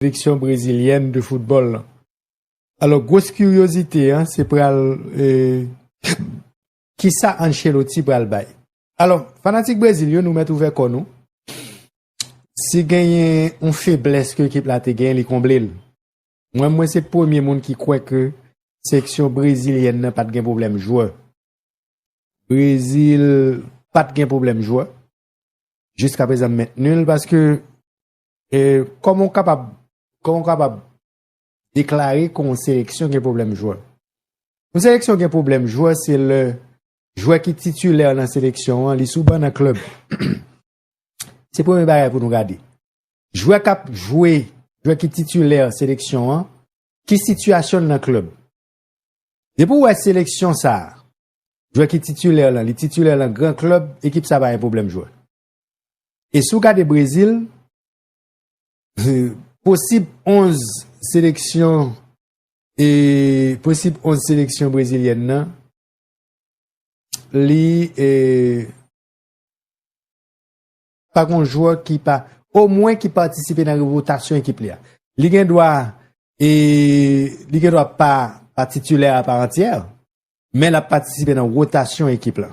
seleksyon brezilyèn de foutbòl lan. Alò gwos kiryozite an se pral kisa Ancelotti pral bay. Alò fanatik Brezil yo nou mèt ouvè kò nou, si genyen yon feblès ke ekip la te genyen li konble l. Mwen mwen se premye moun ki kwè ke seleksyon brezilyèn nan pat gen pwoblèm jwè. Brezil pat gen pwoblèm jwè. Jiska prezan m mentni l paske E kòman ou kapab, kòman ou kapab deklare kon yon seleksyon gen pwoblèm jwè? Yon seleksyon gen pwoblèm jwè se lè jwè ki titulè nan seleksyon an li sou ban nan klèb. Se premye bagay pou nou gade. Jwè kap jwe, jwè ki titulè nan seleksyon an, ki sitiyasyon nan klèb? Depi ou wè seleksyon sa, jwè ki titulè lan, li titulè lan gran klèb, ekip sa pa gen pwoblèm jwè. E si w gade Brezil, posib 11 seleksyon e posib 11 seleksyon brezilyèn nan, li e pa gon jwè ki pa, o mwen ki patisipe nan revotasyon ekip li a. Li gen dwa e li gen dwa pa pa titulè a pa antyè, men la patisipe nan rotasyon ekip la.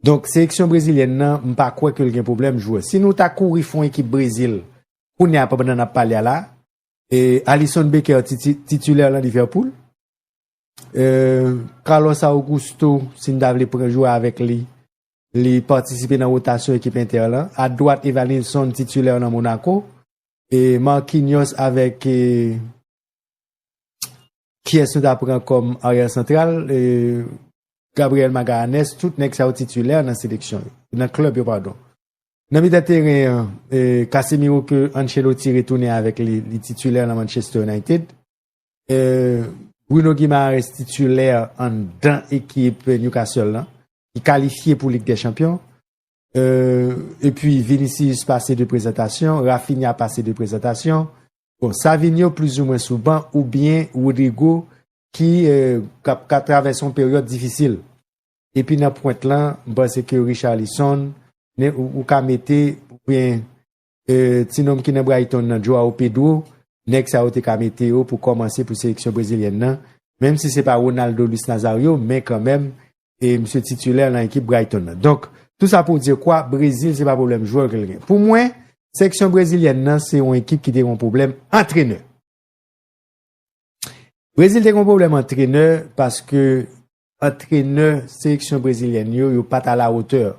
Donk seleksyon brezilyèn nan m pa kwè ke l gen pwoblèm jwè. Si nou ta kouri fon ekip Brezil kounye a pandan n ap pale a la, Alisson Becker titilè lan Liverpool, Carlos Augusto si n ta vle pran jwè avèk li, li patisipe nan wotasyon ekip Inter lan, a dwat Evanilson titilè lan Monaco, Marquinhos avèk Kiyès nou ta pran kòm aryèl santral? Gabriel Magallanes, tout nèg sa yo titulè nan seleksyon yo, nan klèb yo padon. Nan mitan teren an, Casemiro ke Ancelotti retounen avèk li, li titulè nan Manchester United. Bruno Guimaraes titulè anndan ekip Newcastle lan, ki kalifye pou Lig dè Chanpyon. Euh epi Vinicius pase 2 prezantasyon, Raphinha pase 2 prezantasyon. Bon Savinho plizoumwen sou ban oubyen Rodrygo ki ka travèse yon peryòd difisil. Epi nan pwent lan, m panse ke Richarlison, men ou ka mete oubyen Ti nonm ki nan Brighton nan, Joao Pedro, nèg sa yo te ka mete yo pou kòmanse pou seleksyon brezilyèn nan, menm si se pa Ronaldo, Luis Nazario, men kanmèm, e misye titulaire lan ekip Brighton nan. Donk, tou sa pou w dire kwa, Brezil se pa pwoblèm jwè ke l gen. Pou mwen, seleksyon brezilyèn nan se yon ekip ki te gen yon pwoblèm antrenè. Brezil te gen yon pwoblèm antrenè paske antrenè seleksyon brezilyèn yo, yo pa t a la hauteur.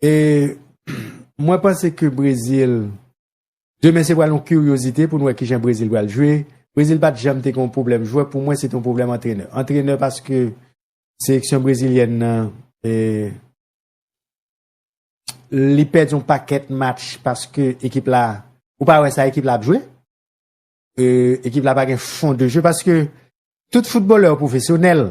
E mwen panse ke Brezil, demen se pral yon kiryozite pou nou wè kijan Brezil pral jwe. Brezil pat janm te gen yon pwoblèm jwè, pou mwen se te yon pwoblèm antrenè. Antrenè paske seleksyon brezilyèn nan, li pèdi yon pakèt match paske ekip la, ou pa wè sa ekip la ap jwe. Ekip la pa gen fon de jwe paske tout foutbolè yo pwofesyonèl.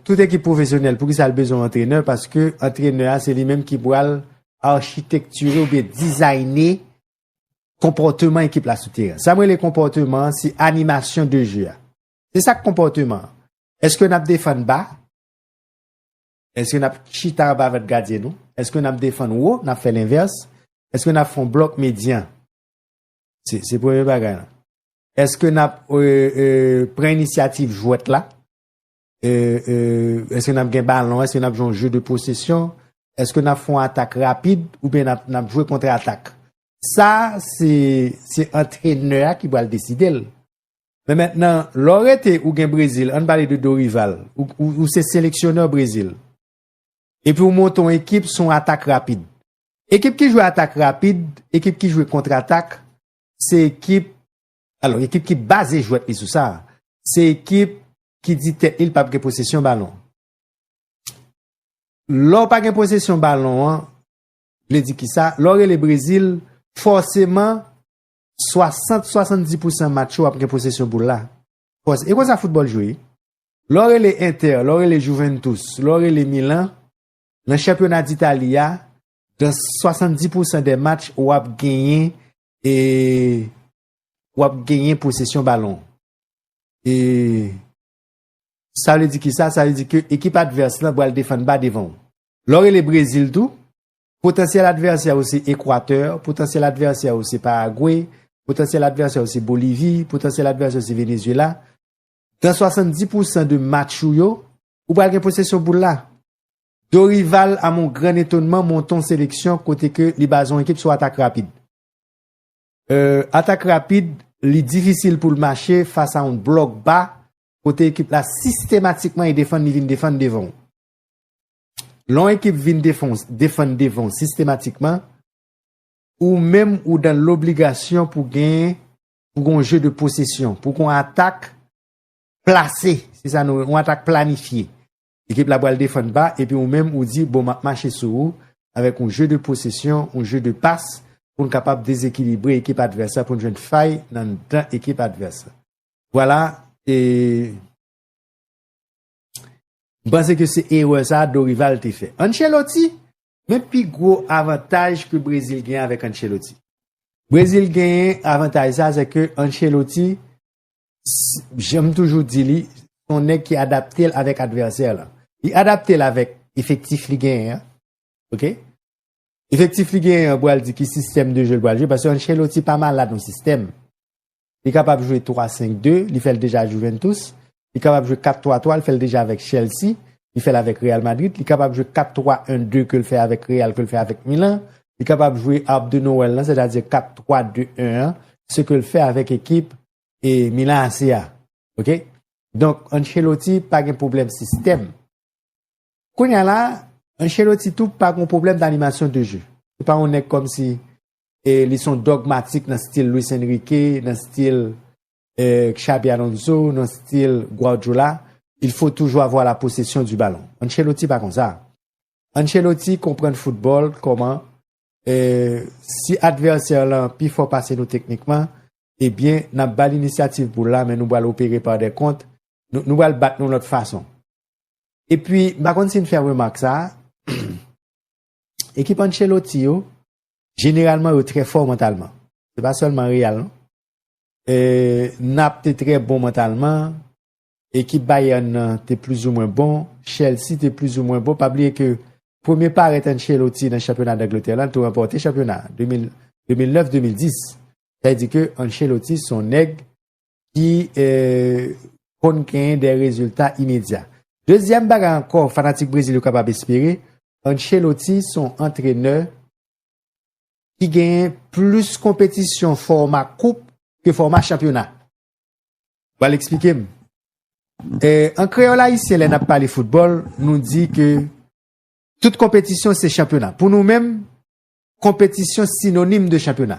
Tout ekip pwofesyonèl poukisa l bezwen antrenè paske antrenè a se li menm ki pral achitekture oubyen dizayne konpòteman ekip la sou teren. Sa mwen le konpòteman an se animasyon de je a. Se sak konpòteman an. Eske nap defann ba? Eske nap chita anba vant gadyen nou? Eske nap defann wo? Nap fè lenvès? Eske nap fon blòk medyan? Se premye bagay la. Eske nap pran inisyativ jwèt la? Eske nap gen balon? Eske nap joun jwèt de posesyon? Eske nap foun atak rapid? Ou ben nap jwèt kontre atak? Sa, se antrenè a ki bal deside l. Men men nan, lò rete ou gen Brezil, an bali de Dorival, ou se seleksyonè Brezil. Epi ou monte yon ekip se yon atak rapid. Ekip ki jwe atak rapid, ekip ki jwe kontratak, se ekip, alò ekip ki baze jwèt li sou sa, se ekip ki di tèt li li pap gen posesyon balon. Lè w pa gen posesyon balon an, vle di ki sa, lè w rele Brezil, fòseman 60-70 pousan match ou ap gen posesyon boul la. Pòz, e konsa foutbòl jwe wi. Lè w rele Inter, lè w rele Juventus, lè w rele Milan, nan chanpyona d'Italie a, dans 70 pou san dè match w ap genyen e w ap genyen posesyon balon. E sa vle di kisa? Sa vle di ke ekip advès lan pral defann ba devan w. Lè w rele Brezil tou, Potansyèl advèsè ou se Ekwatè, potansyèl advèsè ou se Paragwe, potansyèl advèsè ou se Bolivi, potansyèl advèsè ou se Venezyela. Nan 70 pou san de match ou yo, ou pral gen posesyon boul la. Dorival a mon gran etonman monte yon seleksyon kote ke li baze yon ekip sou atak rapid. Euh, atak rapid, li difisil pou l mache fas a yon blòk ba kote ekip la sistematikman e defann li vin defann devan ou. Lè yon ekip vin defann devan w sistematikman, ou menm ou dan lobligasyon pou gen pou gen yon je de posesyon, pou gen yon atak plase, se sa nou rele yon atak planifye. Ekip la pral defann ba, epi ou menm ou di, bon, m ap mache sou ou, avèk yon je de posesyon, yon je de pas, pou n kapab dezekilibre ekip advès la, pou n jwenn fay nan dan ekip advès la. Vwala, e... M panse ke se erè sa a Dorival te fè. Ancelotti? Men pi gwo avantaj ke Brezil gen avèk Ancelotti. Brezil genyen avantaj sa a se ke Ancelotti, jan m toujou di li, se yon nèg ki adapte l avèk advèsè l an. Li adapte l avèk efektif li genyen an. Ok? Efektif li genyen an pral di ki sistèm de jwe l pral jwe paske Ancelotti pa malad yon sistèm. Li kapab jwe 3-5-2, li fè l deja ak Juventus. Li kapab jwe 4-3-3, li fè l deja avèk Chelsea. Li fè l avèk Real Madrid. Li kapab jwe 4-3-1-2 ke l fè avèk Real, ke l fè avèk Milan. Li kapab jwe Arb de Noël lan, sètadi 4-3-2-1 an, se ke l fè avèk ekip e Milan AC a. Ok? Donk, Ancelotti pa gen pwoblèm sistèm. Kounye a la, Ancelotti tou pa gen pwoblèm d'animation de jeu. Se pa yon nèg kòmsi E li son dogmatik nan stil Luis Enrique, nan stil Xabi Alonso, nan stil Guardiola, il faut toujours avoir la possession du ballon. Ancelotti pa konsa. Ancelotti konprann football koman si adversaire lan pi fò pase nou teknikman, e byen nap bal initiative pou la men nou bal opere par des kont, nou bal bat nou lot fason. E pwi, m pa konn si n fè remark sa, Ekip Ancelotti yo, jeneralman yo trè fò mantalman. Se pa sèlman Real non. E, Nap te trè bon mantalman, ekip Bayern nan te plizoumwen bon, Chelsea te plizoumwen bon, pa bliye ke premye parèt Ancelotti nan chanpyona Dangletè lan, l tou ranpòte chanpyona 2009-2010. Sa vle di ke Ancelotti son nèg ki konn genyen de rezilta imedya. Dezyèm bagay ankò fanatik Brezil yo kapab espere, Ancelotti son antrenè ki genyen plis konpetisyon fòma koup ke fòma chanpyona. Bal eksplike m. An kreyòl ayisyen lè n ap pale foutbòl, nou di ke tout konpetisyon se chanpyona. Pou nou menm, konpetisyon sinonim de chanpyona.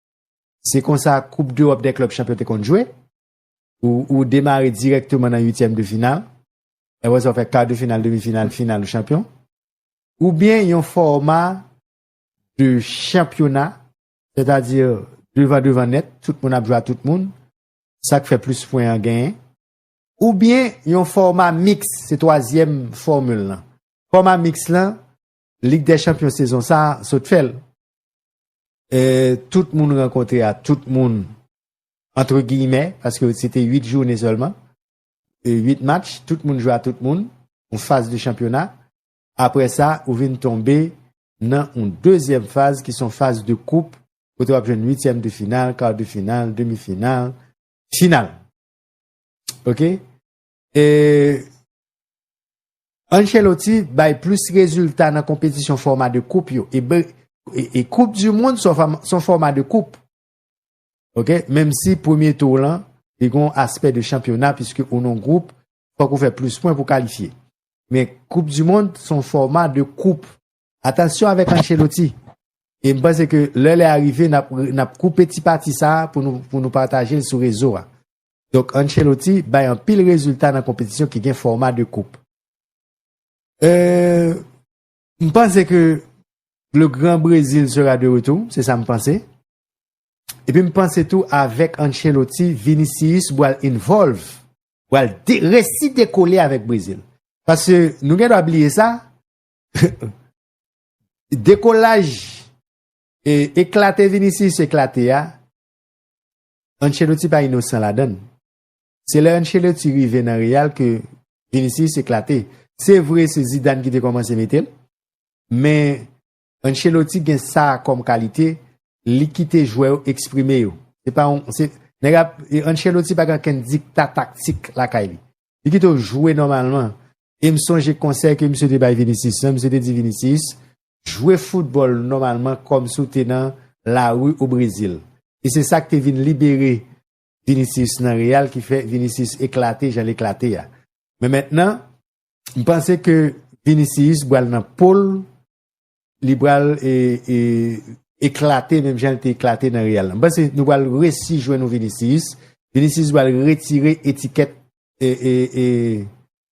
Se konsa koup dEròp dè klub chanpyon te konn jwe, ou demare dirèkteman nan uityèm de final, aprè sa ou fè kar de final, demi final, final ou chanpyon, oubyen yon fòma de chanpyona, sètadi devan devan nèt, tout moun ap jwe a tout moun, sak fè plis pwen an genyen, oubyen yon fòma miks, se twazyèm fòmil lan. Fòma miks lan, Lig dè chanpyon sezon sa sot fè l. E tout moun rankontre a tout moun antre giyimè paske se te 8 joune sèlman. E 8 match, tout moun jwe a tout moun, yon faz de chanpyona. Aprè sa, ou vin tonbe nan yon dezyèm faz ki son faz de koup kote w ap jwenn uityèm de final, kar de final, demi final, final. Ok? E Ancelotti bay plis rezilta nan konpetisyon fòma de koup yo. E koup du moun son fòma de koup. Ok, menm si premye tour lan, li gon aspè de chanpyona, piske ou non group, fòk ou fè plis pwen pou kalifye. Men koup du moun son fòma de koup. Atansyon avèk Ancelotti. E m panse ke lè lè a rive, nap koupe ti pati sa, pou nou pataje l sou rezo a. Donk Ancelotti bay anpil rezilta nan konpetisyon ki gen fòma 2 koup. Euh M panse ke le grand Brésil sera de retour, se sa m panse. Epi m panse tou avèk Ancelotti, Vinicius bwal involve, bwal de resi dekole avèk Brésil. Paske nou gen dwa bliye sa, dekolaj e eklate Vinicius eklate a, Ancelotti pa inosan ladann. Se lè Ancelotti rive nan Real ke Vinicius eklate. Se vre se Zidane ki te kòmanse mete l, men Ancelotti gen sa kòm kalite, li kite jwè yo eksprime yo. Se pa yon, se, nèg ap, Ancelotti pa gen okenn dikta taktik lakay li. Li kite w jwe nòmalman. E m sonje konsèy ke misye te bay Vinicius lan, misye te di Vinicius, jwe foutbòl nòmalman kòm si w te nan lari o Brezil. E se sa k te vin libere Vinicius nan Real ki fè Vinicius eklate jan l eklate a. Men mentnan, m panse ke Vinicius bral nan po l, li bral eklate menm jan l te eklate nan Real la. M panse nou pral resi jwenn yon Vinicius, Vinicius bral retire etikèt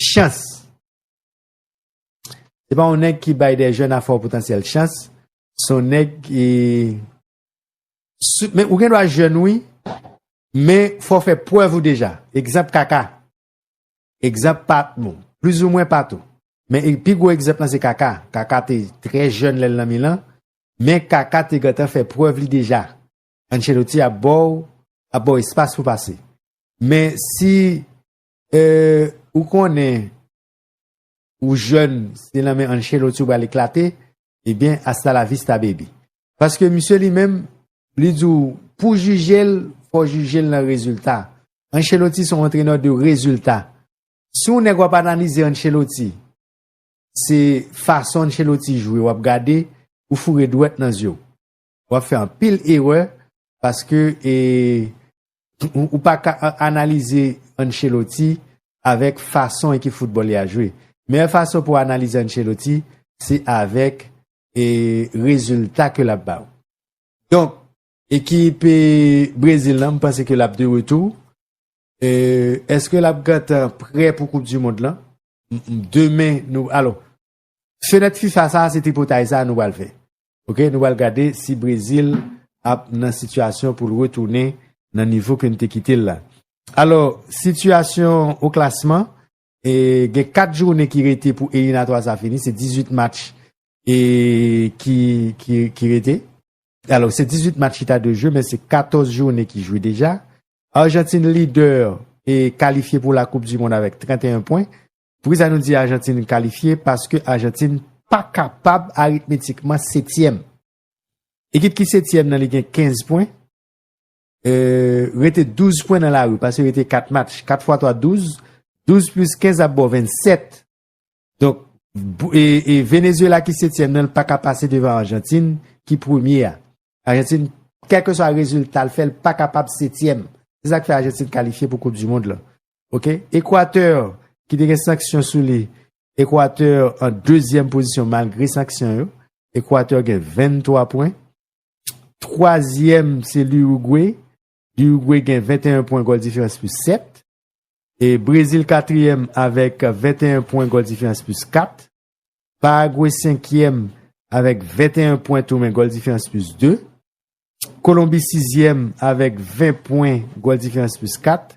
Chans Se pa yon nèg ki bay de jèn a fò potansyèl chans, se yon nèg ki men ou gen dwa jèn wi, men fò fè prèv ou deja. Egzanp kaka, egzanp pa bon, pliz ou mwen pa tou. Men e pi gwo egzanp lan se kaka, kaka te trè jèn lè l nan Milan, men kaka te gentan fè prèv li deja. Ancelloti ap ba w, ap ba w espas pou pase. Men si Ou konnen ou jèn se nan men Ancelotti ou bali klate, ebyen eh asta la vista baby. Paske misye li menm, li di ou pou jije l, fò jije l nan rezilta. Ancelotti son antrenè de rezilta. Si ou nèk wap analize Ancelotti, se fason Ancelotti jwe wap gade, ou foure dwèt nan zye w. wap fè anpil erè paske e ou pa ka analize Ancelotti avèk fason ekip foutbòl li a jwe. Meyè fason pou analize Ancelotti se avèk e rezilta ke lap ba ou. Donk ekip e Brezil lan m panse ke lap de retou. E eske lap gentan prè pou koup du mond lan? Demen nou alò Fenèt fifa sa se tripotay sa nou pral fè ok nou pral gade si brezil ap nan sitiyasyon poul retounen nan nivo ke nou te kitel la alò sitiyasyon o klasman e gen 4 jounen ki rete pou elinatwa sa fini se 18 match e ki ki rete alò se 18 match ki ta dwe jwe men se 14 jounen ki jwe deja arjantin lidè e kalifye pou la koup di mond avèk 31 pwen Poukisa nou di Ajantin kalifye? Paske Ajantin pa kapab aritmetikman setyèm. Ekip ki setyèm nan li gen 15 pwen. Rete 12 pwen nan lari paske rete 4 match. 4 fwa 3, 12. 12 plis 15 ap bo 27. Donk, Venezuela ki setyèm nan li pa ka pase devan Ajantin ki premye a. Ajantin, kèlkeswa rezilta l fè, li pa kapab setyèm. Se sa k fè Ajantin kalifye pou koup dimond lan. Ok, Equateur ki te gen sanksyon sou li, Equateur an dezyèm pozisyon malgre sanksyon yo, Equateur gen 23 pwen, twazyèm se l'Uruguay, l'Uruguay gen 21 pwen gòl diferans plis 7, e Brezil katriyèm avèk 21 pwen gòl diferans plis 4, Paraguay senkyèm avèk 21 pwen tou men gòl diferans plis 2, Kolonbi sizyèm avèk 20 pwen gòl diferans plis 4,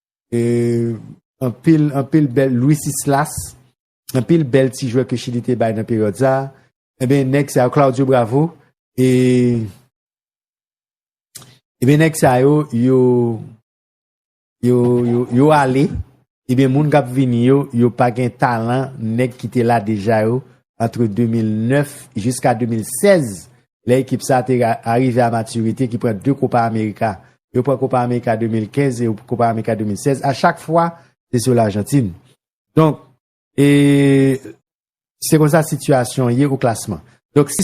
Anpil, anpil bèl Luis Islas, anpil bèl ti jwè ke Chili te bay nan peryòd sa. Eben, eh nèg sa yo, Claudio Bravo, e... Eben, eh nèg sa yo, yo... Yo, yo, yo ale, eben, eh moun kap vini yo, yo pa gen talan nèg ki te la deja yo, antre 2009 jiska 2016, lè ekip sa te arive a matirite ki pran 2 Kopa Amerika. Yo pran Kopa Amerika 2015 e Kopa Amerika 2016, a chak fwa se sou Lajantin. Donk, e se konsa sitiyasyon ye o klasman. Donk, si.